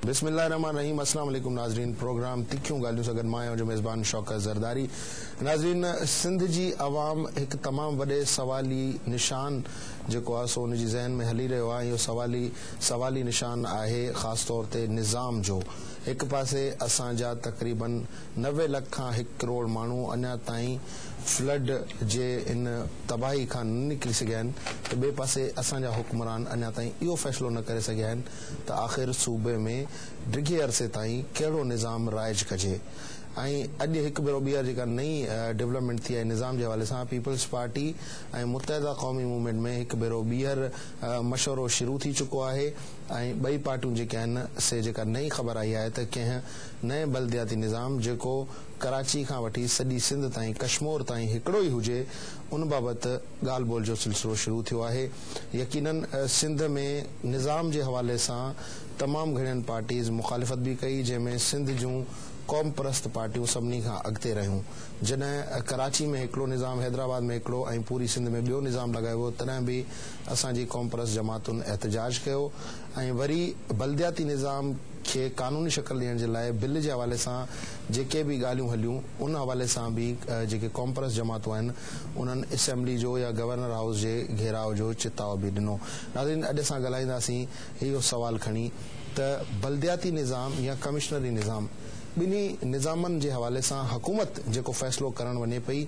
بسم الله الرحمن الرحيم اسلام عليڪم ناظرين پروگرام تکيون ڳالهيون سان گڏ مان آهيان جو ميزبان شوڪت زرداري ناظرين سنڌ جي عوام هڪ تمام وڏي سوالي نشان جيڪو آهي سو ان جي ذهن ۾ هلي رهيو آهي اهو سوالي سوالي نشان آهي خاص طور تي نظام جو هڪ پاسي اسان جا تقريبن نوي لک کان هڪ ڪروڙ ماڻهو اڃا تائين فلڊ جي ان تباهي کان نه نڪري سگهيا آهن ته ٻئي پاسي اسان جا حڪمران اڃا تائين اهو فيصلو نه ڪري سگهيا آهن ته آخر صوبي ۾ ڊگهي عرصي تائين ڪهڙو نظام رائج ڪجي ۽ اڄ هڪ ڀيرو ٻيهر جيڪا نئين ڊولپمينٽ ٿي آهي نظام جي حوالي سان peoples party ۽ Muttahida Qaumi movement ۾ هڪ ڀيرو ٻيهر مشورو شروع ٿي چڪو آهي ۽ ٻئي پارٽيون جيڪي آهن سي جيڪا نئين خبر آئي آهي ته ڪنهن نئين بلدياتي نظام جيڪو ڪراچي کان وٺي سڄي سنڌ تائين ڪشمور تائين هڪڙو ئي هجي ان بابت ڳالهه ٻولهه جو سلسلو شروع ٿيو آهي يقينا سنڌ ۾ نظام جي حوالي سان تمام گهڻين پارٽيز مخالفت به ڪئي جنهن ۾ سنڌ جون قومپرست پارٽيون سڀني کان اڳتي رهيون جڏهن ڪراچي ۾ هڪڙو نظام حيدرآباد ۾ هڪڙو ۽ پوري سنڌ ۾ ٻيو نظام لڳايو ويو تڏهن به اسان جي قومپرست جماعتن احتجاج ڪيو ۽ وري بلدياتي نظام کي قانوني شڪل ڏيڻ جي لاء بل جي حوالي سان جيڪي به ڳالهيون هليون ان حوالي سان به جيڪي قومپرست جماعتون آهن انهن اسيمبلي جو يا گورنر هائوس جي گهيراء جو چتاء به ڏنو ناظرين اڄ اسان ڳالهائينداسين اهو سوال کڻي ته بلدياتي نظام يا ڪمشنري نظام ٻنهي نظامن جي حوالي سان حڪومت جيڪو فيصلو ڪرڻ وڃي پئي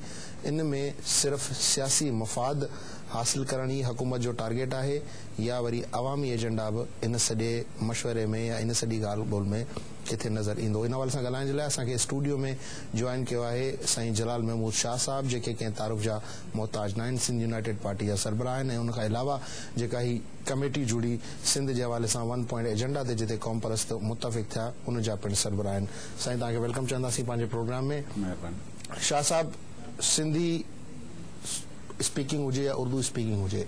ان ۾ صرف سياسي مفاد حاصل ڪرڻ ئي حڪومت جو ٽارگيٽ آهي يا وري عوامي ايجنڊا به ان سڄي مشوري ۾ يا ان سڄي ڳالهه ٻولهه ۾ ڪٿي نظر ايندو. ان حوالي سان ڳالهائڻ جي لاء اسان کي اسٽوڊيو ۾ جوائن ڪيو آهي سائين جلال محمود شاهه صاحب جيڪي ڪنهن تعارف جا محتاج ناهن سنڌ يونائيٽيڊ پارٽي جا سربراهه آهن ۽ ان کان علاوه جيڪا هي ڪميٽي جڙي سنڌ جي حوالي سان ون پوائنٽ ايجنڊا تي جتي قومپرست متفق ٿيا ان جا پڻ سربراهه آهن سائين توهان کي ويلڪم چونداسين پنهنجي پروگرام ۾ مهرباني شاهه صاحب سنڌي. اسپيڪنگ هجي يا اردو اسپيڪنگ هجي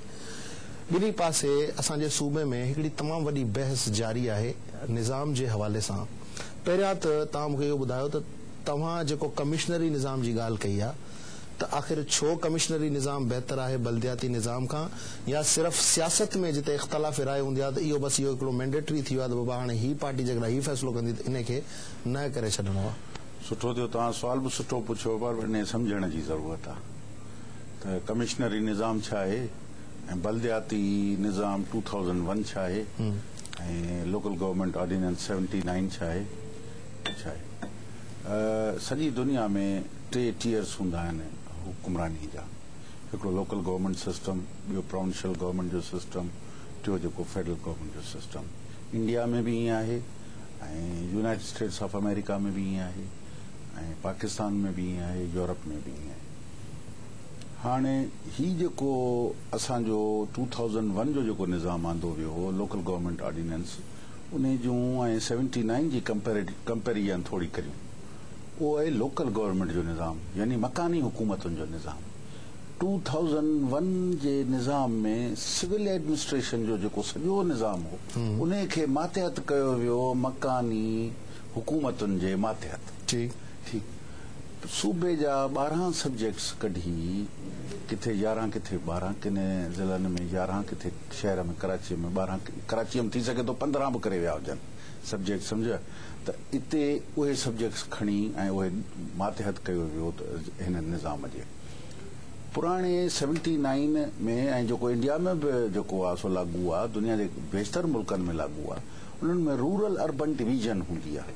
ٻنهي پاسي اسان جي صوبي ۾ هڪڙي تمام وڏي بحث جاري آهي نظام جي حوالي سان پهريان ته توهان مون کي اهو ٻڌايو ته توهان جيڪو ڪمشنري نظام جي ڳالهه ڪئي آهي ته آخر ڇو ڪمشنري نظام بهتر آهي بلدياتي نظام کان يا صرف سياست ۾ جتي اختلاف راء هوندي آهي ته اهو بس اهو هڪڙو مينڊيٽري ٿي ويو آهي ته بابا هاڻي هي پارٽي جيڪڏهن هي فيصلو ڪندي ته انهي کي نه ڪري ڇڏڻو آهي. سٺو ٿيو توهان سوال به سٺو پڇيو پر انهي سمجهڻ جي ضرورت آهي. ته ڪمشنري نظام ڇا آهي ۽ بلدياتي نظام ٽو ٿائوزنڊ ون ڇا آهي ۽ local government ordinance seventy nine ڇا آهي ۽ ڇا آهي. سڄي دنيا ۾ ٽي ٽيئرس هوندا آهن حڪمراني جا هڪڙو لوڪل گورنمينٽ سسٽم، ٻيو پراونشل گورنمينٽ جو سسٽم، ٽيو جيڪو فيڊرل گورنمينٽ جو سسٽم. انڊيا ۾ به ائين آهي ۽ يونائيٽڊ اسٽيٽس آف آمريڪا ۾ به ائين آهي ۽ پاڪستان ۾ به ائين آهي، يورپ ۾ به ائين آهي. هاڻي هي جيڪو اسان جو ٽو ٿائوزنڊ ون جو جيڪو نظام آندو ويو هو لوڪل گورنمينٽ آرڊيننس انهي جون ۽ سيونٽي نائين جي ڪمپيريجن ٿوري ڪريون اهو آهي لوڪل گورنمينٽ جو نظام يعني مڪاني حڪومتن جو نظام ٽو ٿائوزنڊ ون جي نظام ۾ سول ايڊمنسٽريشن جو جيڪو سڄو نظام هو انهي کي ماتحت ڪيو ويو مڪاني حڪومتن جي ماتحت ٺيڪ ٺيڪ صوبي جا ٻارهن سبجيڪٽس ڪڍي ڪٿي يارهن ڪٿي ٻارهن ڪن ضلعن ۾ يارهن ڪٿي شهر ۾ ڪراچي ۾ ٻارهن ڪراچي ۾ ٿي سگهي ٿو پندرهن به ڪري ويا هجن سبجيڪٽس سمجهيا ته اتي اهي سبجيڪٽس کڻي ۽ اهي ماتحت ڪيو ويو ته هن نظام جي پراڻي سيونٽي نائن ۾ ۽ جيڪو انڊيا ۾ به جيڪو آهي سو لاڳو آهي دنيا جي بيشتر ملڪن ۾ لاڳو آهي انهن ۾ رورل اربن ڊويزن هوندي آهي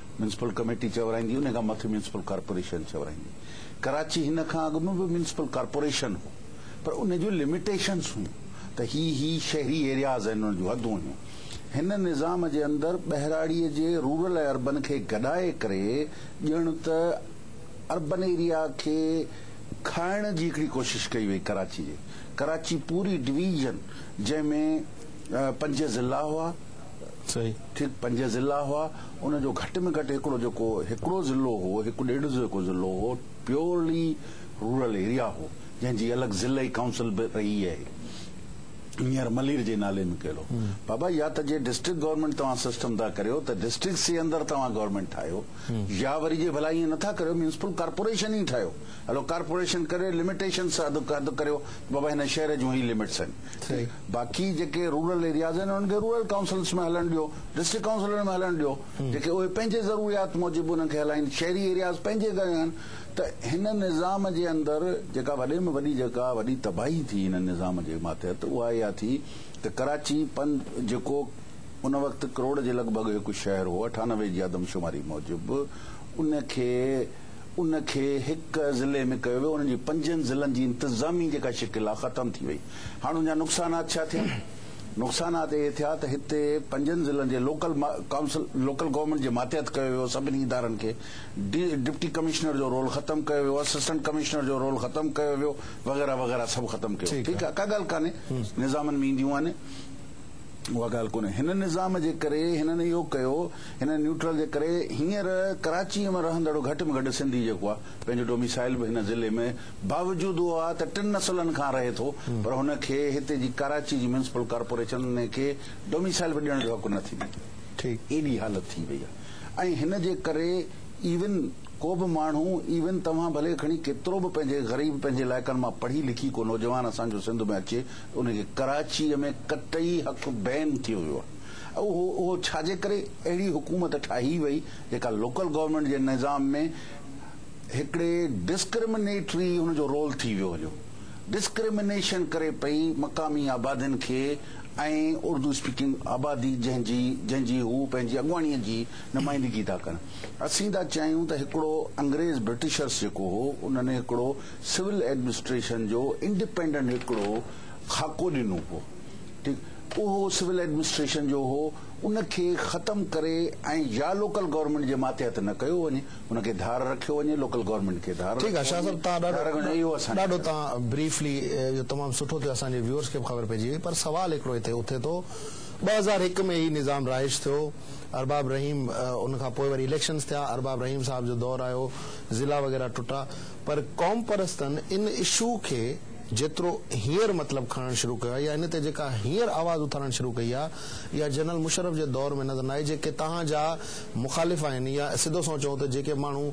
ميونسپل ڪميٽي چورائيندي ان کان مٿي ميونسپل ڪارپوريشن چورائيندي. ڪراچي هن کان اڳ ۾ به ميونسپل ڪارپوريشن هو پر ان جون لميٽيشنز هيون ته هي هي شهري ايرياز آهن انهن جون حدون هيون. هن نظام جي اندر ٻهراڙيء جي رورل ۽ اربن کي گڏائي ڪري ڄڻ ته اربن ايريا کي کائڻ جي هڪڙي ڪوشش ڪئي وئي ڪراچي جي ڪراچي پوري ڊويزن جنهن ۾ پنج ضلعا هئا. ٺيڪ پنج ضلعا هئا ان جو گهٽ ۾ گهٽ هڪڙو جيڪو هڪڙو ضلعو هو هڪ ڏيڍ جيڪو ضلعو هو پيورلي رورل ايريا هو جنهن جي الڳ ضلعي ڪائونسل به رهي آهي نيئر ملير جي نالي ۾ ڪيل هو بابا يا ته جي ڊسٽرڪٽ گورنمينٽ توهان سسٽم ٿا ڪريو ته ڊسٽرڪٽس جي اندر توهان گورنمينٽ ٺاهيو يا وري جي ڀلا ائين نٿا ڪريو ميونسپل ڪارپوريشن ئي ٺاهيو هلو ڪارپوريشن ڪري لميٽيشنس اڌ اڌ ڪريو بابا هن شهر جون هي لمٽس آهن باقي جيڪي رورل ايرياز آهن انهن کي رورل ڪائونسلز ۾ هلڻ ڏيو ڊسٽرڪٽ ڪائونسلن ۾ هلڻ ڏيو جيڪي اهي پنهنجي ضروريات موجب انهن کي هلائين شهري ايرياز پنهنجي ڪري آهن ته هن نظام جي اندر جيڪا وڏي ۾ وڏي جيڪا وڏي تباهي ٿي هن نظام جي ماتحت اها اها ٿي ته ڪراچي پن جيڪو ان وقت ڪروڙ جي لڳ ڀڳ هڪ شهر هو اٺانوي جي آدمشماري موجب ان کي ان کي هڪ ضلعي ۾ ڪيو ويو ان جي پنجن ضلعن جي انتظامي جيڪا شڪل آهي ختم ٿي وئي هاڻ ان جا نقصانات ڇا ٿيا؟ نقصانات اهي ٿيا ته هتي پنجن ضلعن جي لوڪل ڪائونسل، Local Government، جي ماتحت ڪيو ويو سڀني ادارن کي ڊي ڊپٽي ڪمشنر جو رول ختم ڪيو ويو، اسسٽنٽ ڪمشنر جو رول ختم ڪيو ويو وغيره وغيره سڀ ختم ڪيو ٺيڪ آهي ڪا ڳالهه ڪانهي نظامن ۾ اينديون آهن اها ڳالهه ڪونهي هن نظام جي ڪري هنن اهو ڪيو هن نيوٽرل جي ڪري هينئر ڪراچي ۾ رهندڙ گهٽ ۾ گهٽ سنڌي جيڪو آهي پنهنجو ڊوميسائل به هن ضلعي ۾ باوجود اهو آهي ته ٽن نسلن کان رهي ٿو پر هن کي هتي جي ڪراچي جي ميونسپل ڪارپوريشن ان کي ڊوميسائل به ڏيڻ جو حق نه ٿي ڏئي. ايڏي حالت ٿي وئي آهي ۽ هن جي ڪري ايون ڪو به ماڻهو ايون توهان ڀلي کڻي ڪيترو به پنهنجي غريب پنهنجي علائقن مان پڙهي لکي ڪو نوجوان اسان جو سنڌ ۾ اچي ته ان کي ڪراچي ۾ قطعي حق بين ٿيو ويو آهي اهو اهو ڇا جي ڪري اهڙي حڪومت ٺاهي وئي جيڪا لوڪل گورنمينٽ جي نظام ۾ هڪڙي ڊسڪرمنيٽري هن جو رول ٿي ويو هيو. ڊسڪرمنيشن ڪري پئي مقامي آبادين کي ۽ اردو اسپيڪنگ آبادي جنهن جي جنهن جي هو پنهنجي اڳواڻي جي نمائندگي ٿا ڪن. اسين ٿا چاهيون ته هڪڙو انگريز برٽشرس جيڪو هو ان ني هڪڙو سول ايڊمنسٽريشن جو انڊيپينڊنٽ هڪڙو خاڪو ڏنو هو ٺيڪ اهو سول ايڊمنسٽريشن جو هو ان کي ختم ڪري ۽ يا لوڪل گورنمينٽ جي ماتحت نه ڪيو وڃي ان کي ڌار رکيو وڃي لوڪل گورنمينٽ کي ڌار ٺيڪ آ شاھ صاحب تان ڏاڍو ڏاڍو تان بريفلي جو تمام سٺو ٿيو اسان جي ويورس کي به خبر پئجي وئي پر سوال هڪڙو هتي اٿي ٿو ٻه هزار هڪ ۾ هي نظام رهائش ٿيو ارباب رحيم ان کان پوء وري اليڪشنس ٿيا ارباب رحيم صاحب جو دور آيو ضلعا وغيره ٽٽا پر قوم پرستن ان اشو کي جيترو هينئر مطلب کڻڻ شروع ڪيو آهي يا ان تي جيڪا هينئر آواز اٿارڻ شروع ڪئي آهي اها جنرل مشرف جي دور ۾ نظر نه آئي جيڪي توهان جا مخالف آهن يا سڌو سنئون چئون ته جيڪي ماڻهو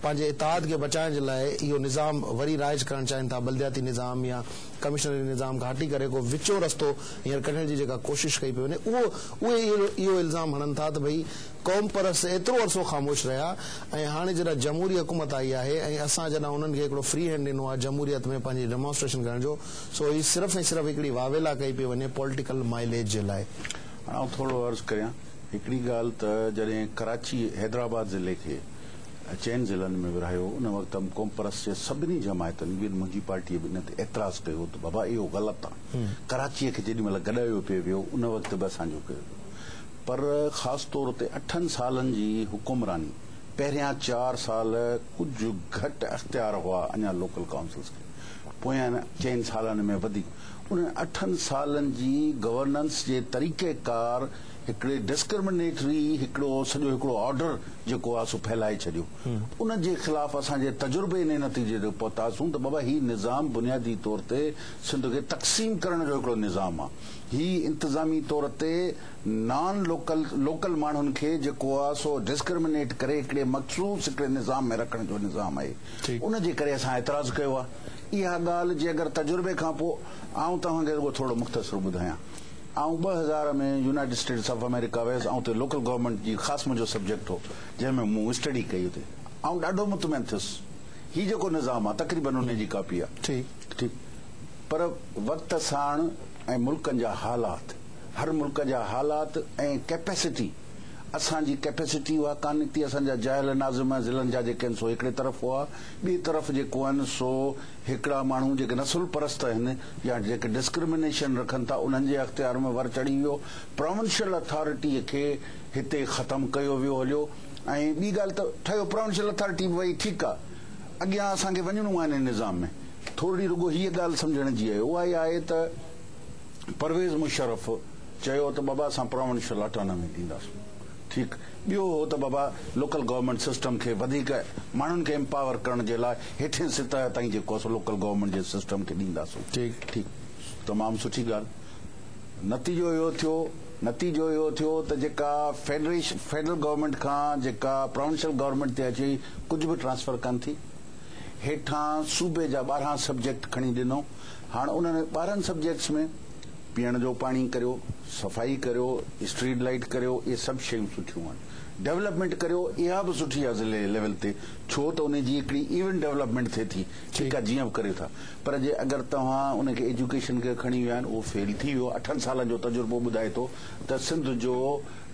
پنهنجي اتحاد کي بچائڻ جي لاء اهو نظام وري رائج ڪرڻ چاهين ٿا بلدياتي نظام يا ڪمشنري نظام کان هٽي ڪري ڪو وچون رستو هينئر ڪڍڻ جي جيڪا ڪوشش ڪئي پئي وڃي اهو اهي اهو الزام هڻن ٿا ته ڀئي قومپرست ايترو عرصو خاموش رهيا ۽ هاڻي جڏهن جمهوري حڪومت آئي آهي ۽ اسان جڏهن انهن کي هڪڙو فري هينڊ ڏنو آهي جمهوريت ۾ پنهنجي ڊيمانسٽريشن ڪرڻ جو سو هي صرف ۽ صرف هڪڙي واويلا ڪئي پئي وڃي پوليٽيڪل مائليج جي لاء. هاڻ آئون ٿورڙو عرض ڪريان. هڪڙي ڳالهه ته جڏهن ڪراچي حيدرآباد ضلعي کي چئن ضلعن ۾ ورهايو ان وقت هم قومپرست جي سڀني جماعتن به منهنجي پارٽيء به ان تي اعتراض ڪيو ته بابا اهو غلط آ ڪراچيء کي جيڏي مهل گڏايو پئي ويو ان وقت به اسان جو ڪيو ويو پر خاص طور تي اٺن سالن جي حڪمراني پهريان چار سال ڪجهه گهٽ اختيار هئا اڃا لوڪل ڪائونسلز کي پويان چئن سالن ۾ وڌيڪ انهن اٺن سالن جي گورننس جي طريقه ڪار هڪڙي ڊسڪرمنيٽري هڪڙو سڄو هڪڙو آرڊر جيڪو آ سو ڦهلائي ڇڏيو ان جي خلاف اسان جي تجربي انهي نتيجي تي پهتاسون ته بابا هي نظام بنيادي طور تي سنڌ کي تقسيم ڪرڻ جو هڪڙو نظام آ هي انتظامي طور تي نان لوڪل لوڪل ماڻهن کي جيڪو آ سو ڊسڪرمنيٽ ڪري هڪڙي مخصوص هڪڙي نظام ۾ رکڻ جو نظام آهي ان جي ڪري اسان اعتراض ڪيو آ اها ڳالهه جي اگر تجربي کان پوء آئون توهان کي رڳو ٿورڙو مختصر ٻڌايان آئون ٻه هزار ۾ يونائيٽڊ اسٽيٽس آف آمريڪا ويس ۽ اتي لوڪل گورنمينٽ جي خاص منهنجو سبجيڪٽ هو جنهن ۾ مون اسٽڊي ڪئي اتي آئون ڏاڍو مطمئن ٿيس هي جيڪو نظام آهي تقريبن انهي جي ڪاپي آهي ٺيڪ پر وقت ساڻ ۽ ملڪن جا حالات هر ملڪ جا حالات ۽ ڪيپيسٽي اسان جي ڪيپيسٽي اها ڪانه نڪتي اسان جا جاهل ناظم ضلعن جا جيڪي آهن سو هڪڙي طرف هئا ٻي طرف جيڪو آهن سو هڪڙا ماڻهو جيڪي نسل پرست آهن يا جيڪي ڊسڪرمنيشن رکن ٿا انهن جي اختيار ۾ ور چڙهي ويو، پراونشل اٿارٽيء کي هتي ختم ڪيو ويو هليو ۽ ٻي ڳالهه ته ٺهيو پراونشل اٿارٽي به وئي ٺيڪ آ اڳيان اسان کي وڃڻو آهي انهي نظام ۾ ٿورڙي رڳو هيء ڳالهه سمجهڻ جي آهي اها آهي ته پرويز مشرف چيو ته بابا اسان پراونشل اٽانامي ڏينداسون. ٺيڪ. ٻيو اهو ته بابا لوڪل گورنمينٽ سسٽم کي وڌيڪ ماڻهن کي امپاور ڪرڻ جي لاء هيٺين سطح تائين جيڪو اسان لوڪل گورنمينٽ جي سسٽم کي ڏينداسون. ٺيڪ. ٺيڪ. تمام سٺي ڳالهه. نتيجو اهو ٿيو نتيجو اهو ٿيو ته جيڪا فيڊريش فيڊرل گورنمينٽ کان جيڪا پراونشل گورنمينٽ تي اچي ڪجهه به ٽرانسفر ڪن ٿي هيٺان صوبي جا ٻارهن سبجيڪٽ کڻي ڏنو هاڻ انهن ٻارهن سبجيڪٽس ۾ پيئڻ جو پاڻي ڪريو، صفائي ڪريو، اسٽريٽ لائيٽ ڪريو اهي سڀ شيون سٺيون آهن. ڊولپمينٽ ڪريو اها به سٺي آهي ضلعي ليول تي ڇو ته ان جي هڪڙي ايون ڊولپمينٽ ٿئي ٿي ٺيڪ آهي جيئن به ڪريو ٿا پر جي اگر توهان ان کي ايجوڪيشن کي کڻي ويا آهن اهو فيل ٿي ويو اٺن سالن جو تجربو ٻڌائي ٿو ته سنڌ جو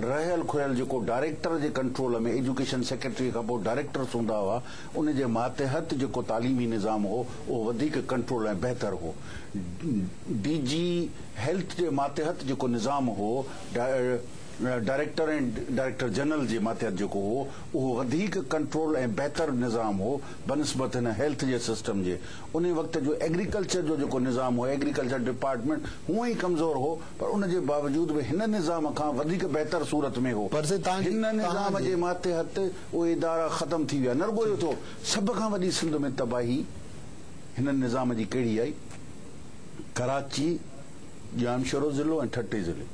رهيل کهيل جيڪو ڊائريڪٽر جي ڪنٽرول ۾ ايجوڪيشن سيڪريٽري کان پوء ڊائريڪٽرس هوندا هئا ان جي ماتحت جيڪو تعليمي نظام هو اهو وڌيڪ ڪنٽرول ۽ بهتر هو. ڊي جي هيلٿ جي ماتحت جيڪو نظام هو، ڊائريڪٽر ۽ ڊائريڪٽر جنرل جي ماتحت جيڪو هو، اهو وڌيڪ ڪنٽرول ۽ بهتر نظام هو بنسبت هن هيلٿ جي سسٽم جي. انهي وقت جو ايگريڪلچر جو جيڪو نظام هو، ايگريڪلچر ڊپارٽمينٽ هونء ئي ڪمزور هو، پر ان جي باوجود به هن نظام کان وڌيڪ بهتر صورت ۾ هو. هن نظام جي ماتحت اهي ادارا ختم ٿي ويا. نه رڳو اهو ٿيو، سڀ کان وڏي سنڌ ۾ تباهي. هن نظام جي ڪهڙي آئي؟ ڪراچي، ڄامشورو ضلعو ۽ ٺٽي ضلعي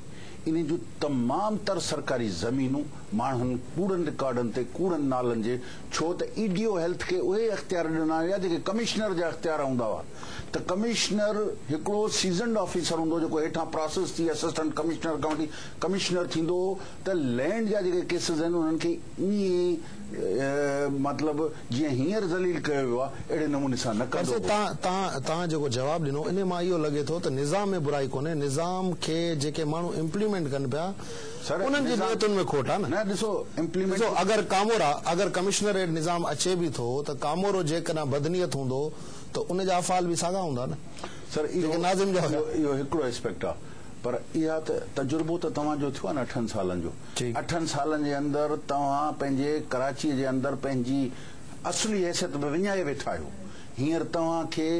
انهن جون تمام تر سرڪاري زمينون ماڻهن ڪوڙن رڪارڊن تي ڪوڙن نالن جي ڇو ته اي ڊي او هيلٿ کي اهي اختيار ڏنا ويا جيڪي ڪمشنر جا اختيار هوندا هئا ته ڪمشنر هڪڙو سيزنڊ آفيسر هوندو جيڪو هيٺان پراسس ٿي اسسٽنٽ ڪمشنر کان وٺي ڪمشنر ٿيندو هو ته لينڊ جا جيڪي ڪيسز آهن انهن کي ائين مطلب جيئن هينئر ذليل ڪيو ويو آهي اهڙي نموني سان نه ڪندو هو. تان تان جيڪو جواب ڏنو انهي مان اهو لڳي ٿو ته نظام ۾ برائي ڪونهي نظام کي جيڪي ماڻهو امپليمينٽ ڪن پيا انهن جي نيتن ۾ کوٽ آهي نه نه ڏسو امپليمينٽ ڏسو اگر ڪامورا اگر ڪمشنريٽ نظام اچي به ٿو ته ڪامورو جيڪڏهن بدنيت هوندو ته ان جا افعال به ساڳا هوندا نه سر اهو جيڪي ناظم جا هيا. اهو هڪڙو اسپيڪٽ آهي. پر اها ته تجربو ته توهان جو ٿيو آهي نه اٺن سالن جو اٺن سالن جي اندر توهان پنهنجي ڪراچيء جي اندر پنهنجي اصلي حيثيت به وڃائي ويٺا آهيو هينئر توهان کي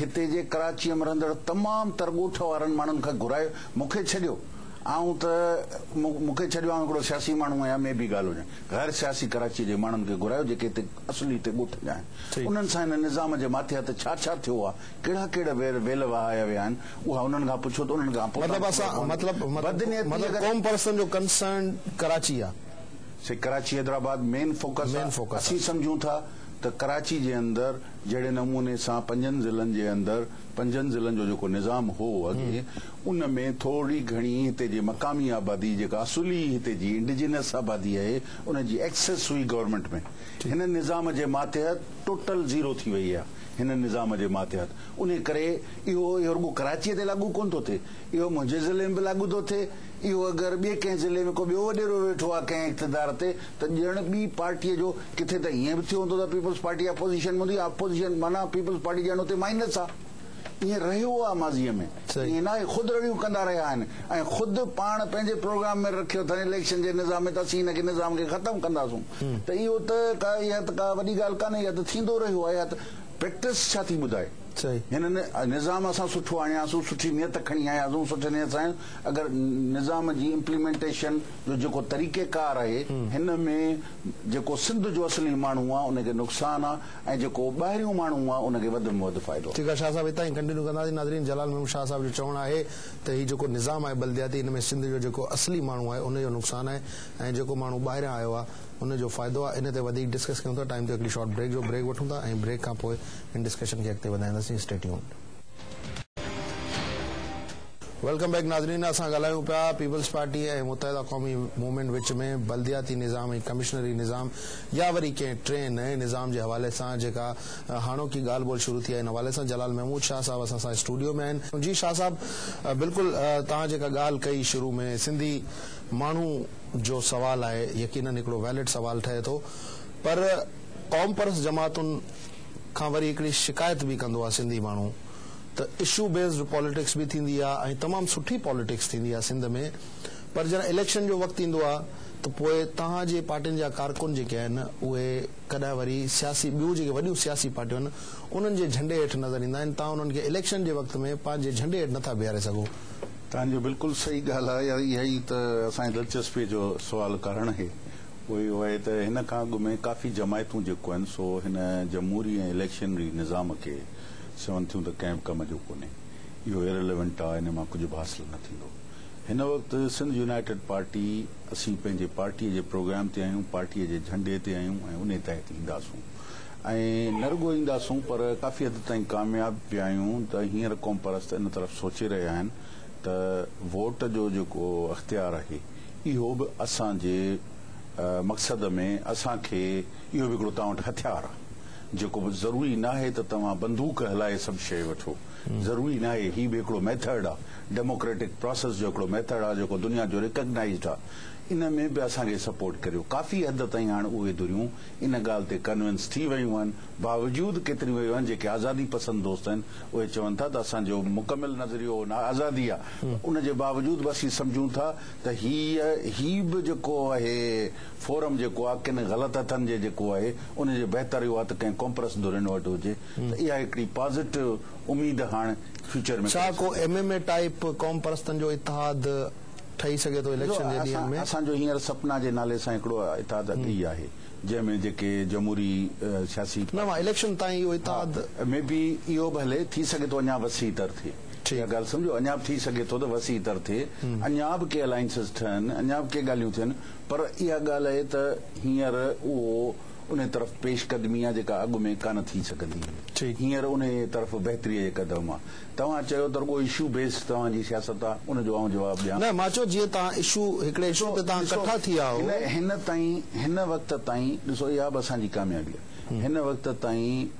هتي جي ڪراچيء ۾ رهندڙ تمام تر ڳوٺ وارن ماڻهن کي گهرائي مون کي ڇڏيو آئون ته مون کي ڇڏيو آئون هڪڙو سياسي ماڻهو آهيان مي بي ڳالهه هجن غير سياسي ڪراچيء جي ماڻهن کي گهرايو جيڪي هتي اصلي هتي ڳوٺ جا آهن انهن سان هن نظام جي ماٿي هٿ ڇا ڇا ٿيو آهي ڪهڙا ڪهڙا ويل وهايا ويا آهن اها انهن کان پڇو ته انهن کان پوتان مطلب اسان مطلب مطلب قوم پرستن جو ڪنسرن ڪراچي آ. سي ڪراچي حيدرآباد مين فوڪس آ اسين سمجهون ٿا ته ڪراچي جي اندر جهڙي نموني سان پنجن ضلعن جي اندر پنجن ضلعن جو جيڪو نظام هو اڳي ان ۾ ٿورڙي گهڻي هتي جي مقامي آبادي جيڪا اصولي هتي جي انڊجينس آبادي آهي ان جي ايڪسس هئي گورنمينٽ ۾ هن نظام جي ماتحت ٽوٽل زيرو ٿي وئي آ هن نظام جي ماتحت انهي ڪري اهو اهو رڳو ڪراچيء تي لاڳو ڪونه ٿو ٿئي، اهو منهنجي ضلعي ۾ به لاڳو ٿو ٿئي، اهو اگر ٻئي ڪنهن ضلعي ۾ ڪو ٻيو وڏيرو ويٺو آهي ڪنهن اقتدار تي ته ڄڻ ٻي پارٽيء جو ڪٿي ته ائين به ٿيو هوندو ته پيپلز پارٽي اپوزيشن ۾ هوندي، اپوزيشن معنيٰ پيپلز پارٽي ڄڻ اتي مائنس آهي، ائين رهيو آهي ماضيء ۾، ائين ناهي خود رڙيون ڪندا رهيا آهن ۽ خود پاڻ پنهنجي پروگرام ۾ رکيو اٿن اليڪشن جي نظام ۾ ته اسين هن کي نظام کي ختم ڪنداسون ته اهو ته ڪا اها ته ڪا وڏي ڳالهه ڪانهي اها ته ٿيندو رهيو آهي اها ته پريڪٽس ڇا ٿي ٻڌائي. هن نظام اسان سٺو آڻياسون، سٺي نيت کڻي آياسون، سٺي نيت سان آياسون، اگر نظام جي امپليمينٽيشن جو جيڪو طريقه ڪار آهي هن ۾ جيڪو سنڌ جو اصلي ماڻهو آ ان کي نقصان آ ۽ جيڪو ٻاهريون ماڻهو آ ان کي وڌ ۾ وڌ فائدو آ. ٺيڪ آ شاهه صاحب هتان ئي ڪنٽينيو ڪنداسين ناظرين جلال محمد شاهه صاحب جو چوڻ آهي ته هي جيڪو نظام آهي بلدياتي ان ۾ سنڌ جو جيڪو اصلي ماڻهو آهي ان جو نقصان آهي ۽ جيڪو ماڻهو ٻاهريان آيو آ ان جو فائدو آ ان تي وڌيڪ ڊسڪس ڪيون ٿا ٽائيم تي هڪڙي شارٽ بريڪ جو بريڪ وٺون ٿا ۽ بريڪ کان پوء هن ڊسڪشن کي اڳتي وڌائينداسين اسٽي ٽيونڊ. ويلڪم بيڪ ناظرين اسان ڳالهايون پيا peoples party ۽ Muttahida Qaumi movement وچ ۾ بلدياتي نظام ۽ ڪمشنري نظام يا وري ڪنهن ٽئين نئين نظام جي حوالي سان جيڪا هاڻوڪي ڳالهه ٻولهه شروع ٿي آهي ان حوالي سان جلال محمود شاهه صاحب اسان سان اسٽوڊيو ۾ آهن جي شاهه صاحب بلڪل توهان جيڪا ڳالهه ڪئي شروع ۾ سنڌي ماڻهو جو سوال آهي يقينن هڪڙو ويلڊ سوال ٺهي ٿو پر قومپرست جماعتن کان وري هڪڙي شڪايت به ڪندو آ سنڌي ماڻهو ته اشو بيسڊ پاليٽڪس به ٿيندي آ ۽ تمام سٺي پاليٽڪس ٿيندي آ سنڌ ۾ پر جڏهن اليڪشن جو وقت ايندو آ ته پوء توهان جي پارٽين جا ڪارڪن جيڪي آهن اهي ڪڏهن وري سياسي ٻيون جيڪي وڏيون سياسي پارٽيون آهن انهن جي جهنڊي هيٺ نظر ايندا آهن توهان انهن کي اليڪشن جي وقت ۾ پنهنجي جهنڊي هيٺ نٿا بيهاري سگهو توهان جو بلڪل صحيح ڳالهه آهي اها ئي ته اسان جي دلچسپي جو سوال ڪارڻ آهي اهو ئي آهي ته هن کان اڳ ۾ ڪافي جماعتون جيڪو آهن سو هن جمهوري ۽ اليڪشنري نظام کي سون ٿيون ته ڪنهن به ڪم جو ڪونهي. اهو Irrelevant آ ان مان ڪجهه به حاصل نه ٿيندو. هن وقت سنڌ يونائيٽيڊ پارٽي اسين پنهنجي پارٽي جي پروگرام تي آهيون، پارٽي جي جهنڊي تي آهيون ۽ انهي تحت اينداسون ۽ نه رڳو اينداسون پر ڪافي حد تائين ڪامياب به آهيون ته هينئر قومپرست ان طرف سوچي رهيا آهن ته ووٽ جو جيڪو اختيار آهي اهو به اسان جي مقصد ۾ اسان کي اهو به هڪڙو توهان وٽ هٿيار آ جيڪو به ضروري ناهي ته توهان بندوق هلائي سڀ شيء وٺو ضروري ناهي هي به هڪڙو ميٿڙڊ آ ڊيموڪريٽڪ پراسيس جو هڪڙو ميٿڙ آ جيڪو دنيا جو ريڪگنائيزڊ آ ان ۾ به اسان کي سپورٽ ڪريو ڪافي حد تائين هاڻ اهي ڌريون ان ڳالهه تي ڪنوينس ٿي ويون آهن باوجود ڪيتريون ويون آهن جيڪي آزادي پسند دوست آهن اهي چون ٿا ته اسان جو مڪمل نظريو آزادي آ ان جي باوجود به اسين سمجهون ٿا ته هيء هي به جيڪو اهي فورم جيڪو آهي ڪن غلط هٿن جي جيڪو آهي ان جي بهتر اهو آهي ته ڪنهن ڪومپرس ڌرين وٽ هجي ته اها هڪڙي پازيٽو اميد هاڻ فيوچر ۾ ڇا ڪو ايم ايم اي ٽائيپ قومپرستن جو اتحاد ٺهي سگهي ٿو اليڪشن جي ڏينهن ۾؟ اسان جو هينئر سپنا جي نالي سان هڪڙو اتحاد اڳي ئي آهي جنهن ۾ جيڪي جمهوري سياسي پارٽيون. نه اليڪشن تائين اهو اتحاد. مي بي اهو به هلي ٿي سگهي ٿو اڃا وسيع تر ٿئي. اها ڳالهه سمجهو اڃا به ٿي سگهي ٿو ته وسيع تر ٿئي، اڃا به ڪي الائنسز ٺهن، اڃا به ڪي ڳالهيون ٿين پر اها ڳالهه اهي ته هينئر اهو انهي طرف پيش قدمي آهي جيڪا اڳ ۾ ڪانه ٿي سگهندي هئي. هينئر انهي طرف بهتريء جي قدم آهي. توهان چيو ته رڳو اشو بيسڊ توهان جي سياست آهي، ان جو آئون جواب ڏيان. نه مان چيو جيئن توهان اشو هڪڙي اشو تي توهان ڪٺا ٿي آهو. ڏسو هن تائين هن وقت تائين ڏسو اها به اسان جي ڪاميابي آهي هن وقت تائين.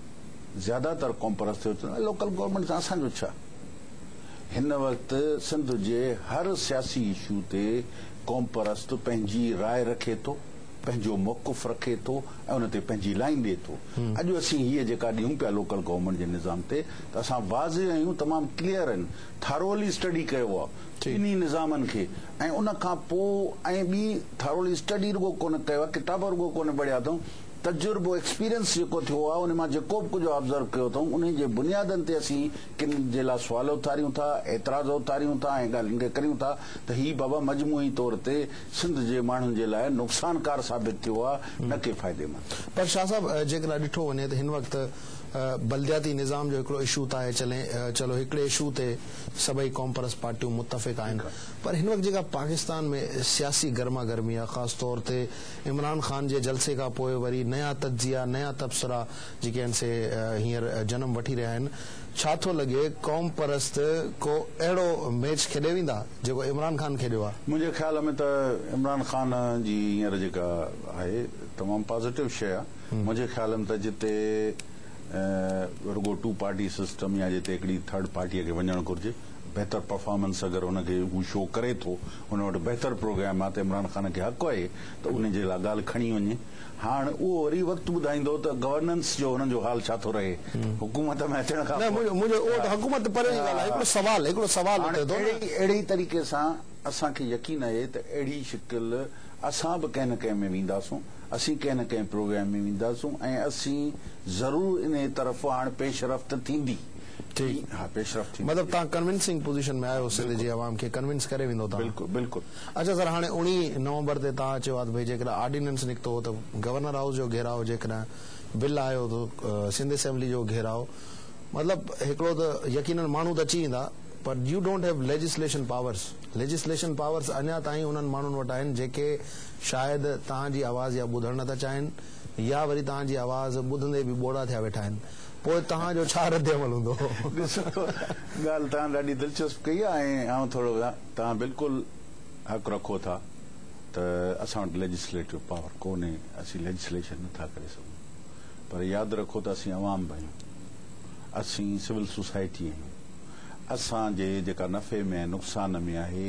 زياده تر قومپرست ٿيو چون ته لوڪل گورنمينٽ سان اسان جو ڇا؟ هن وقت سنڌ جي هر سياسي اشو تي قومپرست پنهنجي راء رکي ٿو، پنهنجو موقف رکي ٿو ۽ ان تي پنهنجي لائين ڏئي ٿو. اڄ اسين هيء جيڪا ڏيون پيا لوڪل گورنمينٽ جي نظام تي ته اسان واضح آهيون، تمام ڪليئر آهن، ٿاروئلي اسٽڊي ڪيو آهي ٻنهي نظامن کي ۽ ان کان پوء ۽ ٻي ٿاروئلي اسٽڊي رڳو ڪونه ڪيو آهي، ڪتاب رڳو ڪونه پڙهيا اٿئون، تجربو، Experience، جيڪو ٿيو آهي ان مان جيڪو به ڪجهه Observe ڪيو اٿئون انهي جي بنيادن تي اسين ڪن جي لاء سوال اٿاريون ٿا، اعتراض اٿاريون ٿا ۽ ڳالهين کي ڪريون ٿا ته هي بابا مجموعي طور تي سنڌ جي ماڻهن جي لاء نقصانڪار ثابت ٿيو آهي نه ڪي فائديمند. پر شاهه صاحب جيڪڏهن اڄ ڏٺو وڃي ته هن وقت بلدياتي نظام جو هڪڙو اشو ته آهي چلي چلو هڪڙي اشو تي سڀئي قومپرست پارٽيون متفق آهن پر هن وقت جيڪا پاڪستان ۾ سياسي گرما گرمي آهي خاص طور تي عمران خان جي جلسي کان پوء وري نيا تجزيا، نيا تبصرا جيڪي آهن سي هينئر جنم وٺي رهيا آهن، ڇا ٿو لڳي قومپرست ڪو اهڙو ميچ کيڏي ويندا جيڪو عمران خان کيڏيو آهي؟ منهنجي خيال ۾ ته عمران خان جي هينئر جيڪا آهي تمام پازيٽو شيء آهي، منهنجي خيال ۾ ته جتي رڳو ٽو پارٽي سسٽم يا جتي هڪڙي ٿرڊ پارٽيء کي وڃڻ گهرجي، بهتر پرفارمنس اگر ان کي هو شو ڪري ٿو هن وٽ بهتر پروگرام آ ته عمران خان کي حق آهي ته ان جي لاء ڳالهه کڻي وڃي. هاڻ اهو وري وقت ٻڌائيندو ته گورننس جو هنن جو حال ڇا ٿو رهي حڪومت ۾ اچڻ کان پوء. نه منهنجو اهو ته حڪومت ته پري جي ڳالهه آهي هڪڙو سوال هڪڙو سوال اٿي ٿو نه. هاڻ اهڙي طريقي سان اسان کي يقين آهي ته اهڙي شڪل اسان به ڪنهن نه ڪنهن ۾ وينداسون اسين ڪنهن نه ڪنهن پروگرام ۾ وينداسون ۽ اسين ضرور انهي طرف هاڻ پيش رفت ٿيندي. ٺيڪ ها پيشرفت ٿيندي مطلب تهان ڪنوينسنگ پوزيشن ۾ آهيو سنڌ جي عوام کي ڪنوينس ڪري ويندو تهان بلڪل بلڪل. اچا سر هاڻي اوڻيهه نومبر تي تهان چيو آهي ته ڀئي جيڪڏهن آرڊيننس نڪتو هو ته گورنر هائوس جو گهيراء جيڪڏهن بل آيو ته سنڌ اسيمبلي جو گهيراء مطلب هڪڙو ته يقينن ماڻهو ته اچي ويندا پر you don't have legislation powers legislation powers اڃا تائين انهن ماڻهن وٽ آهن جيڪي شايد تهان جي آواز يا ٻڌڻ نه ٿا چاهين يا وري تهان جي آواز ٻڌندي به ٻوڙا ٿيا ويٺا آهن پوء توهان جو ڇا رد عمل هوندو؟ ڏسو ڳالهه توهان ڏاڍي دلچسپ ڪئي آهي ۽ آئون ٿورو توهان بلڪل حق رکو ٿا ته اسان وٽ ليجسليٽو پاور ڪونهي اسين ليجسليشن نه ٿا ڪري سگهون پر ياد رکو ته اسين عوام به آهيون اسين سول سوسائٽي آهيون اسان جي جيڪا نفعي ۾ ۽ نقصان ۾ آهي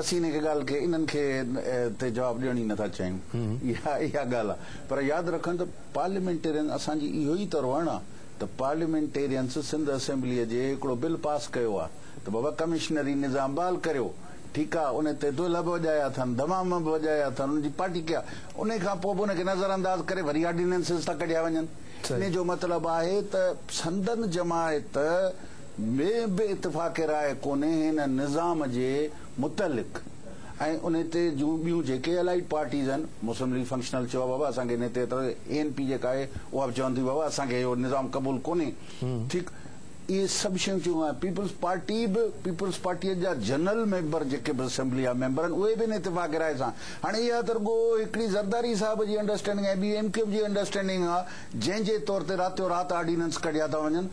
اسين هن کي ڳالهه کي انهن کي تي جواب ڏيڻ ئي نٿا چاهيون اها اها ڳالهه آهي پر ياد رکن ته پارليامينٽيرين اسان جي اهو ئي ته روهڻ آهي ته پارليامينٽيرينس سنڌ اسيمبلي جي هڪڙو بل پاس ڪيو آهي ته بابا ڪمشنري نظام بحال ڪريو ٺيڪ آهي ان تي دهلا به وڄايا اٿن دمام به وڄايا اٿن ان جي پارٽي ڪئي آهي انهي کان پوء به ان کي نظر انداز ڪري وري آرڊيننسز ٿا ڪڍيا وڃن انهي جو مطلب آهي ته سندن جماعت ۾ به اتفاق راء ڪونهي هن نظام جي متعلق ۽ ان تي جون ٻيون جيڪي الائيڊ پارٽيز آهن مسلم ليگ فنڪشنل چيو آهي بابا اسان کي ان تي اعتراض اي اين پي جيڪا آهي اها به چون ٿي بابا اسان کي اهو نظام قبول ڪونهي ٺيڪ اهي سڀ شيون چيون آهن پيپلز پارٽي به پيپلز پارٽي جا جنرل ميمبر جيڪي به اسيمبلي جا ميمبر آهن اهي به ان اتفاق راء سان هاڻي اها ته رڳو هڪڙي زرداري صاحب جي انڊرسٽينڊنگ آهي ٻي ايم ڪيو ايف جي انڊرسٽينڊنگ آهي جنهن جي طور تي راتيو رات آرڊيننس ڪڍيا ٿا وڃن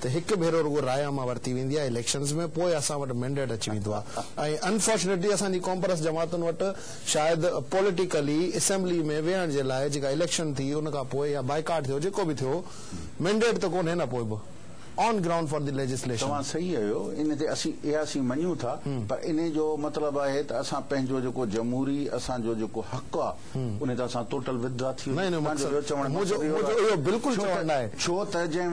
ته هڪ ڀيرو رڳو راء عامه ورتي ويندي آهي اليڪشنز ۾ پوء اسان وٽ مينڊيٽ اچي ويندو آهي ۽ انفارچونيٽلي اسان جي ڪامپرس جماعتن وٽ شايد پوليٽيڪلي اسيمبلي ۾ ويهڻ جي لاء جيڪا اليڪشن ٿي ان کان پوء يا بائيڪاٽ ٿيو جيڪو به ٿيو مينڊيٽ ته ڪونهي نه پوء به on ground for the legislation. توهان صحيح اهيو ان تي اسين اياسين مڃون ٿا پر انهي جو مطلب آهي ته اسان پنهنجو جيڪو جمهوري اسان جو جيڪو حق آهي انهي طرح سان ٽوٽل وٿڊرا ٿي وڃي تنهن جو ٻيو چوڻ مقصد اهو آهي ڇو ته جنهن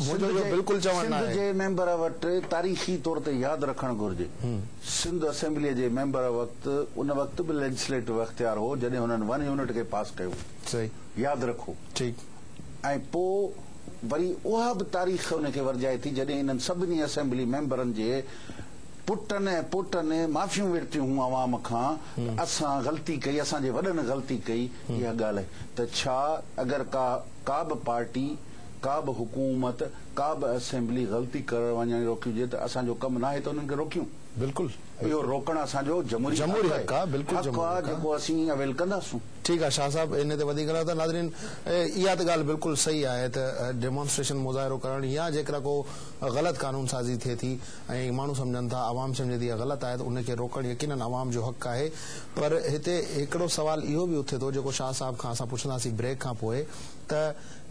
وٽ اليڪشن سنڌ جي ميمبر وٽ تاريخي طور تي ياد رکڻ گهرجي سنڌ اسيمبلي جي ميمبر وقت ان وقت به ليجسليٽو اختيار هو جڏهن هنن ون يونٽ کي پاس ڪيو ياد رکو ۽ پوء وري اها به تاريخ ان کي ورجائي ٿي جڏهن انهن سڀني اسيمبلي ميمبرن جي پٽن ۽ پوٽن معافيون ورتيون هون عوام کان ته اسان غلطي ڪئي اسان جي وڏن غلطي ڪئي اها ڳالهه ته ڇا اگر ڪا ڪابه پارٽي ڪابه حڪومت ڪابه اسيمبلي غلطي ڪرڻ وڃڻ روڪي هجي ته اسان جو ڪم ناهي ته انهن کي روڪيون بلڪل اهو روڪڻ اسان جو جمهوري جمهوري حق آ بلڪل حق آ جيڪو اسين اويل ڪنداسون. ٺيڪ آ شاهه صاحب ان تي وڌيڪ نه ته ناظرين اها ته ڳالهه بلڪل صحيح آهي ته ڊيمونسٽريشن مظاهرو ڪرڻ يا جيڪڏهن ڪو غلط قانون سازي ٿئي ٿي ۽ ماڻهو سمجهن ٿا عوام سمجهي ٿي اها غلط آهي ته ان کي روڪڻ يقينن عوام جو حق آهي پر هتي هڪڙو سوال اهو به اٿي ٿو جيڪو شاهه صاحب کان اسان پڇنداسين بريڪ کان پوء ته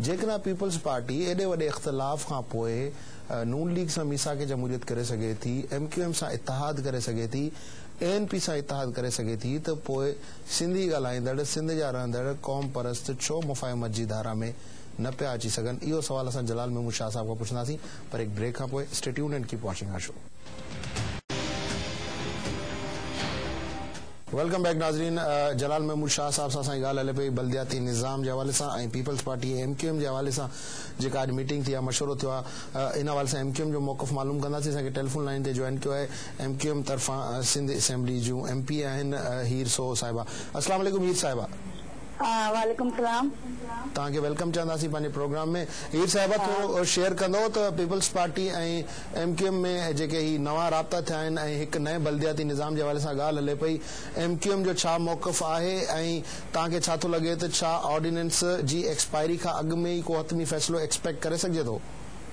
جيڪڏهن پيپلز پارٽي ايڏي وڏي اختلاف کان پوء نون ليگ سان ميثاق جمهوريت ڪري سگهي ٿي ايم ڪيو ايم سان اتحاد ڪري سگهي ٿي اي اين پي سان اتحاد ڪري سگهي ٿي ته پوء سنڌي ڳالهائيندڙ سنڌ جا رهندڙ قوم پرست ڇو مفاهمت جي ڌارا ۾ نه پيا اچي سگهن اهو سوال اسان جلال محمود شاهه صاحب کان پڇنداسين پر هڪ بريڪ کان پوء stay tuned and keep watching our show. Welcome back ناظرين جلال محمود شاهه صاحب سان اسان جي ڳالهه هلي پئي بلدياتي نظام جي حوالي سان ۽ peoples party M Q M جي حوالي سان جيڪا اڄ ميٽنگ ٿي آهي مشورو ٿيو آهي ان حوالي سان ايم ڪيو ايم جو موقف معلوم ڪنداسين اسان کي ٽيليفون لائين تي جوائن ڪيو آهي ايم ڪيو ايم طرفان سنڌ اسيمبلي جون ايم پي اي آهن هير سوهو صاحبه السلام عليڪم هير صاحبه. وعليڪم السلام. توهان کي ويلڪم چونداسين پنهنجي پروگرام ۾ هير صاحبه ٿورو شيئر ڪندو ته peoples party ۽ M Q M ۾ جيڪي هي نوان رابطا ٿيا آهن ۽ هڪ نئين بلدياتي نظام جي حوالي سان ڳالهه هلي پئي ايم ڪيو ايم جو ڇا موقف آهي ۽ توهان کي ڇا ٿو لڳي ته ڇا آرڊيننس جي ايڪسپائري کان اڳ ۾ ئي ڪو حتمي فيصلو ايڪسپيڪٽ ڪري سگهجي ٿو.